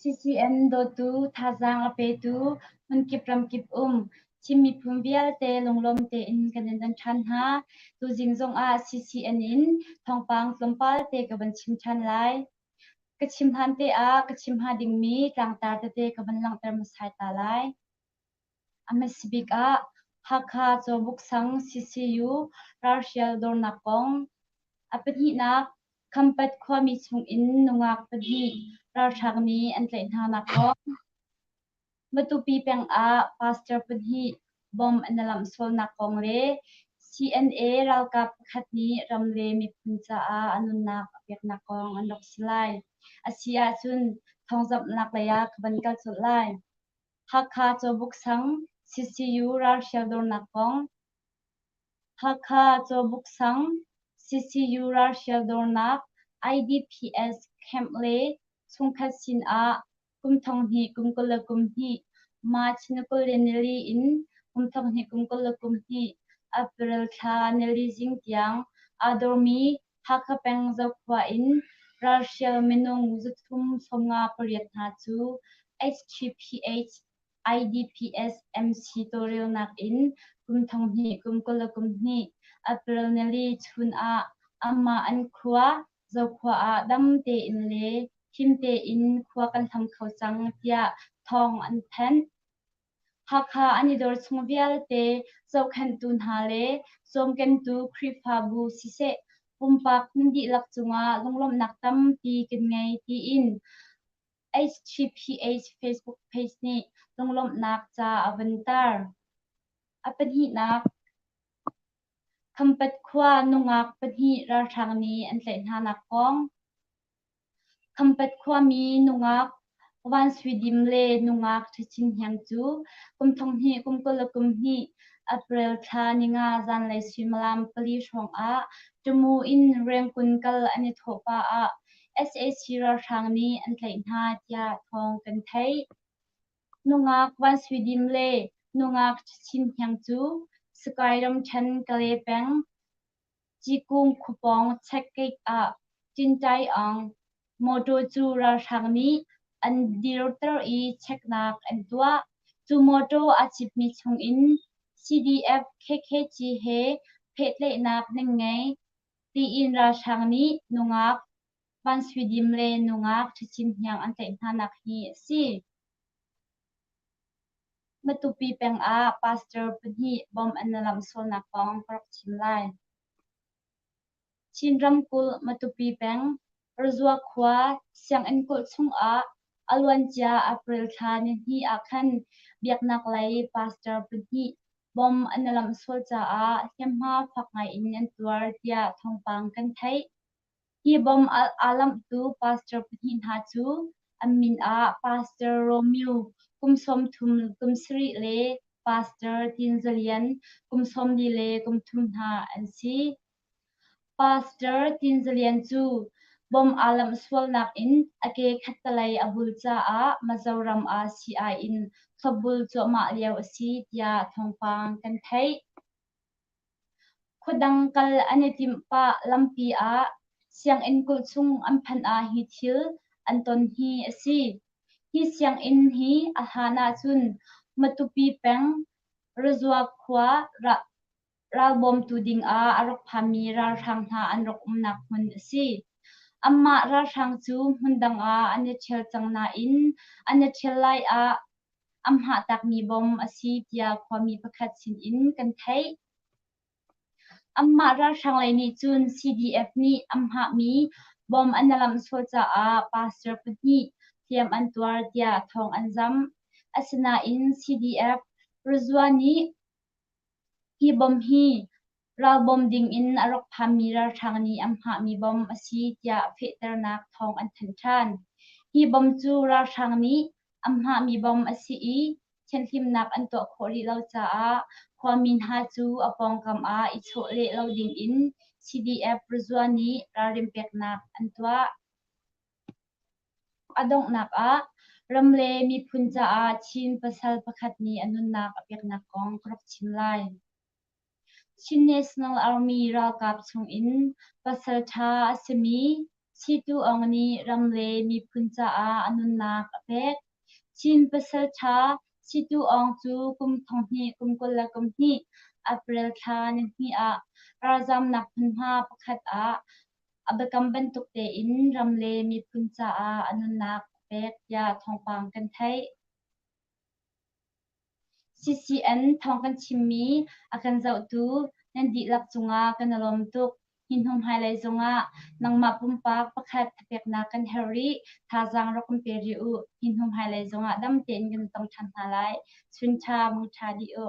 CCM dawtu, thazaang a petu, hmunkip ramkip um Chin miphun vialte lunglawm tein kan in don ṭhan hna. Tuzing zongah CCN in thawngpang tlawmpal te ka van chim ṭhan lai. Ka chim hlan te ah ka chim hnga dingmi tlangtar tete ka van langhter hmasai ta lai. A hmasa bik ah Hakha Cawbuk sang CCU ralhrial dornak kong, a pahnihnak Khampat khuami chungin nungak pahnih ralṭhak nih an tlaih hnanak kong, Matupi peng ah pastor pahnih bomb an i lamh sualnak kong le CNA ralkap pakhat nih ram le miphun caah a nunnak a peknak kong an rak si lai. A si ahcun thawngzamhnak lei ah ka van kal colh lai. Hakha Cawbuk Sang CCU ralhrial dornak kong Hakha Cawbuk Sang CCU ralhrial dornak IDPS camp le chungkhat sin ah kum thong hnih kum kul le kum hnih March ni kul le nili in kum thong hnih kum kul le kum hnih April thla nili zing tiang aa dormi Hakha peng Zokhua in ralhrial minung zuthum sawmnga pariat hna cu HTPH IDPS MC tawlrelnak in kum thonghnih kum kul le kum hnih April nili chun ah amah an khua Zokhua ah dam tein le him tein khua kan hlam kho cang tiah thawng an thanh. Hakha an i dor chung vialte zohkhenhtu hna le zuamkentu Khrihfabu siseh pumpak nan dihlak cungah lunglawmhnak tampi kan ngei tiin HTPH Facebook page nih lunglawmhnak ca a van tar. A pahnihnak Khampat khua nungak pahnih ralhrang nih an tlaih hnanak kong. Khampet khuami nungak Vanswidim le nungak Ṭhachin Hniang cu kum thong hnih kum kul le kum hnih April thla ninga zanlei suimilam pali hrawngah Ṭumu in Rengkun kal an i thawh pah ah sac ralhrang nih an tlaih hna tiah thawng kan theih. Nungak Vanswidim le nungak Ṭhachin Hniang cu Sakae ramṭhen Kale peng Cikung khupawng checkgate ah Cintai Aung mawṭaw cu ralhrang nih an dirter i cheknak an tuah. Cu mawṭaw a citmi chungin CDF KKG he pehtlaihnak nan ngei tiin ralhrang nih nungak Van Sui Dim le nungak Ṭhacin Hniang an tlaih hnanak hi a si. Matupi peng ah pastor pahnih bom an lam sualnak kong ka rak chim lai. Chin ramkulh Matupi peng Parzua khua sianginn kulh chungah a luancia April thla nihnih ah khan biaknak lei pastor pahnih bom an i lamh sual caah hniamhma fak ngaiin an tuar tiah thawngpang kan theih. Hi bawm alh aa lamhtu pastor pahnih hna cu an min ah Pastor Romeo, kum sawmthum kum sarih le Pastor Tin Za Lian, kum sawmli le kum thum hna an si. Pastor Tin Za Lian cu bawm aa lamh sualnak in a ke khattalei a hul caah Mizoram ah sii-ai in thlopbul cuahmah lio a si tiah thawngpang kan theih. Khuadang kal an i timh pah lampi ah sianginn kulh chung an phanh ah hi thil an ton hi a si. Hi sianginn hi a hlan ahcun Matupi peng Razua khua ralbawmtu ding ah a rak phanmi ralhrang hna an rak umnak hmun a si. Anmah ralhrang cu hmun dang ah an i ṭhial cang nain an i ṭhial lai ah a hmahtakmi bom a si tiah khuami pakhat sinin kan theih. Anmah ralhrang lei nih cun CDF nih an hmahmi bom an a lamhsual caah pastor pahnih hliam an tuar tiah thawng an zam. Asinain CDF Rizwa nih hi bom hi Ral bawm dingin a rak phanmi ralhrang nih an hngahmi bom a si tiah fehternak thawng an thanh ṭhan. Hi bom cu ralhrang nih an hngahmi bom a si i thianhlimnak an tuah khawh rih lo caah khuami hna cu a pawngkam ah i chawh leh lo dingin CDF Ruzua nih ralrin peknak an tuah. A donghnak ah ram le miphun caah Chin pasal pakhat nih a nunnak a peknak kong ka rak chim lai. Chin National Army ralkap chungin pasalṭha a simi Si Tu Aung nih ram le miphun caah a nunnak a pek. Chin pasalṭha Si Tu Aung cu kum thonghnih kum kul le kum hnih April thla nihnih ah ralzamnak hmunhma pakhat ah a biakam bantuk tein ram le miphun caah a nunnak a pek tiah thawngpang kan theih. CCN thawng kan chimmi a kan zohtu nan dihlak cungah kan i lawm tuk. Hi hnu hmailei zongah nangmah pumpak pakhat thapeknak kan herh rih. Thazaang rak kan pe rih u. Hi hnu hmailei zongah dam tein kan tong ṭhan hna lai. Chun ṭha, mangṭha dih u.